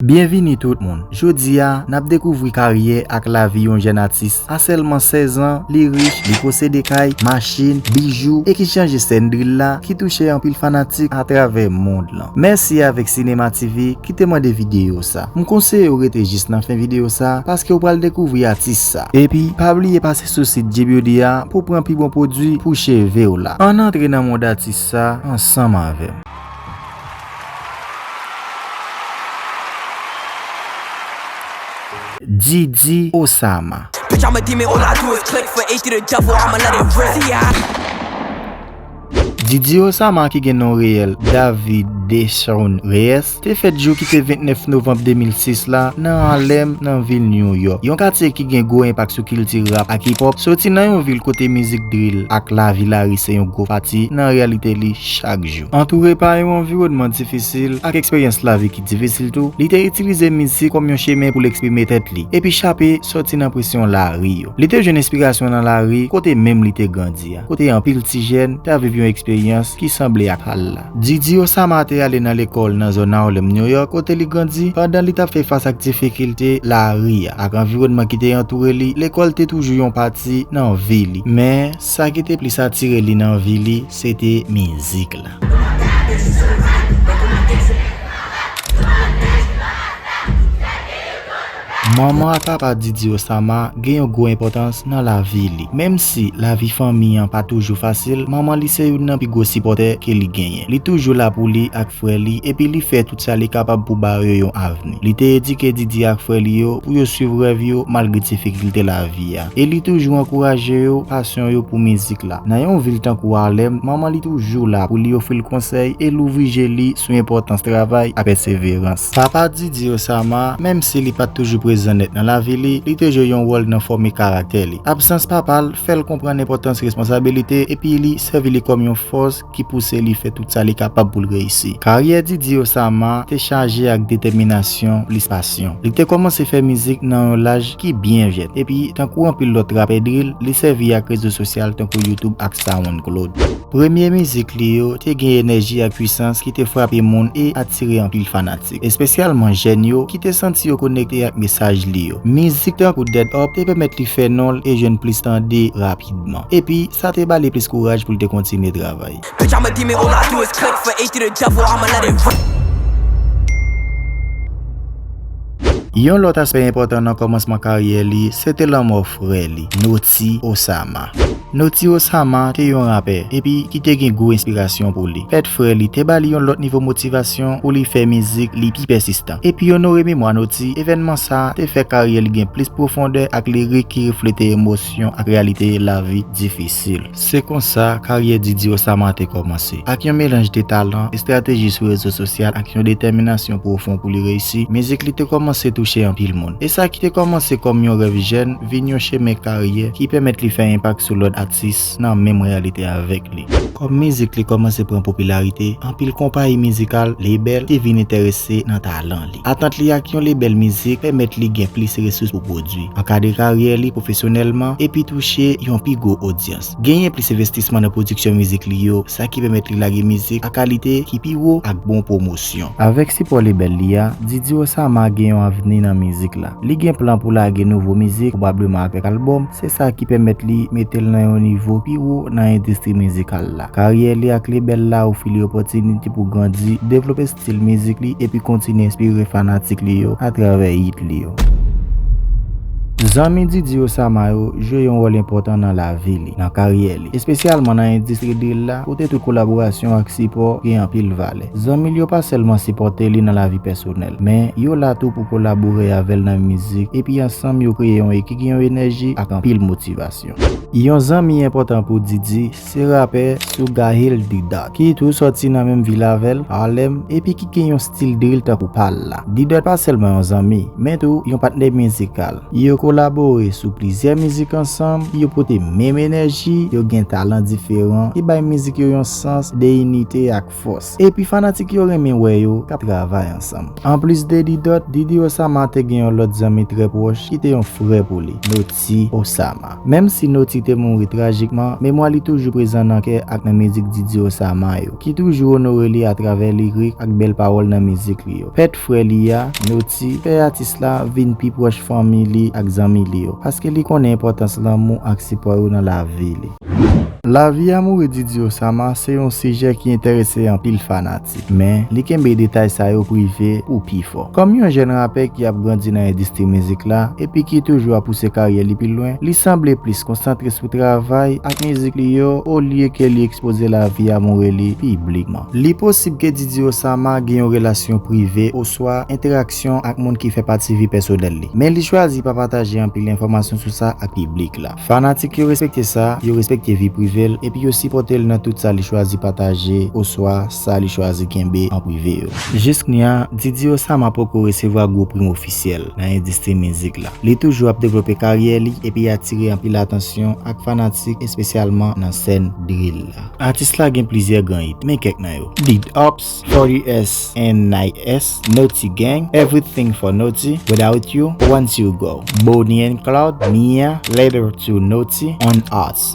Byenvini tout moun! Jodi a, n ap dekouvri karyè ak lavi yon jèn atis. A sèlman 16 an, li rich, li posede kay, machin, bijou, e ki chanje sèn drill la ki touche anpil fanatik atravè mond lan. Mèsi avèk Cinema TV ki te mande videyo sa. M konseye w rete jis nan fen videyo sa paske ou pral dekouvri atis sa. Epi, pa bliye pase sou sit G-Beauty a pou w pran pi bon pwodui pou cheve w la. Ann antre nan mond atis sa ansanm avè m! Didi Osama. Didi Osama ki gen non reyèl David Deshaun Reyes te fèt jou ki te 29 novanm 2006 la nan Harlem nan vil New York, yon katye ki gen gwo enpak sou kilti rap ak hip hop, soti nan yon vil kote mizik drill ak lavi lari se yon gwo pati nan reyalite li chak jou. Antoure pa yon anviwònman difisil ak eksperyans lavi ki difisil tou, li te itilize mizik kòm yon chemen pou l eksprime tèt li epi chape soti nan presyon lari yo. Li te jwenn enspirasyon nan lari kote menm li te grandi a, kote anpil ti jèn ta viv yon eksperyans ki sanble ak sa l la. Didi Osama te ale nan lekòl nan zòn Harlem, New York, kote li grandi. Pandan li t ap fè fas ak difikilte lari a ak anviwònman ki te antoure li, lekòl te toujou yon pati nan vi li. Men, sa ki te plis atire li nan vi li, Se te mizik la. Manman ak papa Didi Osama gen yon gwo enpòtans nan lavi li. Menm si lavi fanmi an pa toujou fasil, manman li se youn nan pi gwo sipòtè ke li genyen. Li toujou la pou li ak frè li epi li fè tout sa li kapab pou ba yo yon avni. Li te edike Didi ak frè li yo pou yo swiv rèv yo malgre difikilte lavi a. E li toujou ankouraje yo pasyon yo pou mizik la. Nan yon vil tankou Harlem, manman li toujou la pou li ofri l konsèy e louvri je li sou enpòtans travay ak pèseverans. Papa Didi Osama, menm si li pa t toujou prezan nèt nan lavi li, li te jwe yon wòl nan fòme karaktè li. Absans papa l fè l konprann enpòtans responsabilite epi li sèvi li kòm yon fòs, ki pouse li fè tout sa li kapab pou l reyisi. Karyè Didier Osama te chaje ak detèminasyon plis pasyon. Li te kòmanse fè mizik nan yon laj ki byen jèn, epi tankou anpil lòt rapè drill, li sèvi ak rezo sosyal tankou YouTube ak SoundCloud. Premye mizik li yo te gen enèji ak pwisans ki te frape moun e atire anpil fanatik. atistik, espesyalman jèn yo ki te santi yo konekte ak mesaj li yo. Mizik tankou Dead Up te pèmèt li fè non l e jwenn plis tande rapidman. Epi, sa te ba li plis kouraj pou l te kontinye travay. Yon lòt aspè enpòtan nan kòmansman karyè li se te lanmò frè li, Noti Osama. Notiro Sama te yon rapè epi ki te gen gwo enspirasyon pou li. Pèt frè li te ba li yon lòt nivo motivasyon pou li fè mizik li pi pèsistan. Epi onore memwa Noti, evènman sa a te fè karyè li gen plis pwofondè ak lirik ki reflete emosyon ak reyalite lavi difisil. Se konsa karyè Didi Osama te kòmanse. Ak yon melanj de talan, estrateji sou rezo sosyal ak yon detèminasyon pwofon pou li reyisi, mizik li te kòmanse touche anpil moun. E sa ki te kòmanse kòm yon rèv jèn, vin yon chemen karyè ki pèmèt li fè enpak sou lòt atis nan menm reyalite avèk li. Kòm mizik li kòmanse pran popilarite, anpil konpayi mizikal, label, te vin enterese nan talan li. Antant li ak yon lebèl mizik pèmèt li gen plis resous pou pwodui, ankadre karyè li pwofesyonèlman, epi touche yon pi gwo odyans. Genyen plis envestisman nan pwodiksyon mizik li yo, sa ki pèmèt li lage mizik a kalite ki pi wo ak bon pwomosyon. Avèk sipò lebèl li a, Didi Osama gen yon avni nan mizik la. Li gen plan pou lage nouvo mizik, pwobableman avèk albòm, se sa ki pèmèt li mete l nan yon nivo pi wo nan endistri mizikal la. Karyè li ak lebèl la ofri li opòtinite pou grandi, devlope. stil mizik li epi kontinye enspire fanatik li yo atravè hit li yo. Zanmi Didi Osama yo jwe yon wòl enpòtan nan lavi li, nan karyè li, espesyalman nan endistri drill la kote tout kolaborasyon ak sipò gen anpil valè. Zanmi l yo pa sèlman sipòte li nan lavi pèsonèl, men yo la tou pou kolabore avè l nan mizik epi ansanm yo kreye yon ekik yon enèji ak anpil motivasyon. Yon zanmi enpòtan pou Didi Se rapè Sugahil D-Dot, ki tou sòti nan menm vil avè l, Harlem, epi ki gen yon stil drill tankou pa l la. D-Dot pa sèlman yon zanmi, men tou yon patnè mizikal. Yo kolabore sou plizyè mizik ansanm, yo pote menm enèji, yo gen talan diferan ki bay mizik yo yon sans de inite ak. fòs epi fanatik yo renmen wè yo k ap travay ansanm. Anplis de Didot, Didi Osama te gen yon lòt zanmi trè pwòch ki te yon frè pou li, Noti Osama. Menm si Noti te mouri trajikman, memwa li toujou prezan nan kè ak nan mizik Didi Osama yo, ki toujou onore li atravè lirik ak bèl pawòl nan mizik li yo. Pèt frè li a, Noti, fè atis la vin pi pwòch fanmi li ak zanmi li yo, paske li konnen enpòtans lanmou ak sipò yo nan lavi li. Lavi amoure Didi Osama se yon sijè ki enterese anpil fanatik, men li kenbe detay sa yo prive pou pi fò. Kòm yon jèn rapè ki ap grandi nan endistri mizik la epi ki toujou ap pouse karyè li pi lwen, li sanble plis konsantre sou travay ak mizik li yo olye ke li ekspoze lavi amoure li piblikman. Li posib ke Didi Osama gen yon relasyon prive oswa enteraksyon ak moun ki fè pati vi pèsonèl li, men li chwazi pa pataje anpil enfòmasyon sou sa ak piblik la. Fanatik yo respekte sa, yo respekte vi prive l epi yo sipòte l nan tout sa li chwazi pataje oswa sa li chwazi kenbe an prive yo. Jisknya, Didi Osama poko resevwa gwo prim ofisyèl nan endistri mizik la. Li toujou ap devlope karyè li epi atire anpil atansyon ak fanatik espesyalman nan sèn drill la. Atis la gen plizyè gran hit, men kèk nan yo. Big Ups, Forty-S and Night-S, Noti Gang, Everything for Noti, Without You, Once You Go, Bonnie and Claude, Mia, Letter to Noti, On Us.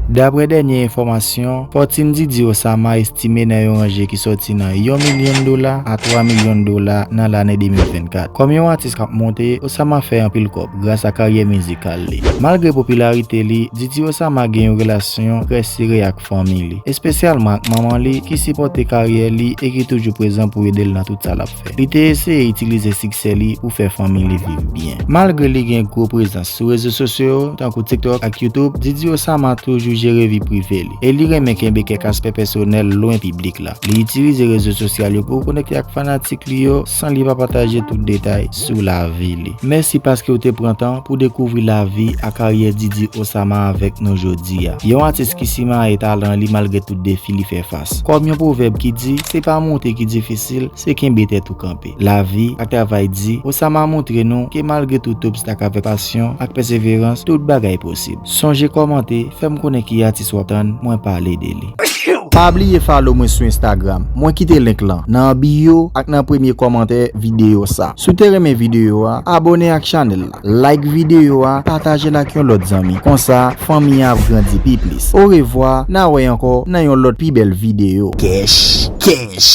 Dapre dènye enfòmasyon, fòtin Didi Osama estime nan yon ranje ki sòti nan yon milyon dola a twa milyon dola nan lane 2024. Kòm yon atis k ap monte, Osama fè anpil kòb gras a karyè mizikal li. Malgre popilarite li, Didi Osama gen yon relasyon trè sere ak. fanmi li, espesyalman ak manman li ki sipòte karyè li e ki toujou prezan pou ede l nan tout sa l ap fè. Li te eseye itilize siksè li pou fè fanmi li viv byen. Malgre li gen gwo prezans sou rezo sosyo yo, tankou TikTok ak YouTube, Didi Osama toujou jere vi prive li e li renmen kenbe kèk aspè pèsonèl lwen piblik la. Li itilize rezo sosyal yo pou konekte ak fanatik li yo san li pa pataje tout detay sou lavi li. Mèsi paske ou te pran tan pou dekouvri lavi a karyè Didi Osama avèk nou jodi a. Yon atis ki simaye talan li malgre tout defi li fè fas. Kòm yon pwovèb ki di, se pa monte ki difisil, se kenbe tèt ou kanpe. Lavi ak travay Di Osama montre nou ke malgre tout obstak avèk pasyon ak pèseverans tout bagay posib. Sonje kòmante, fèm konnen ki atis wap tann mwen pale de li. Pa bliye follow mwen sou Instagram, mwen kite link lan nan bio ak nan premye kòmantè videyo sa. Si w te renmen videyo a, abone ak chanèl la, like videyo a, pataje l ak yon lòt zanmi, konsa fanmi an ap grandi pi plis. Orevwa, na wè ankò nan yon lòt pi bèl videyo. Kèch kèch!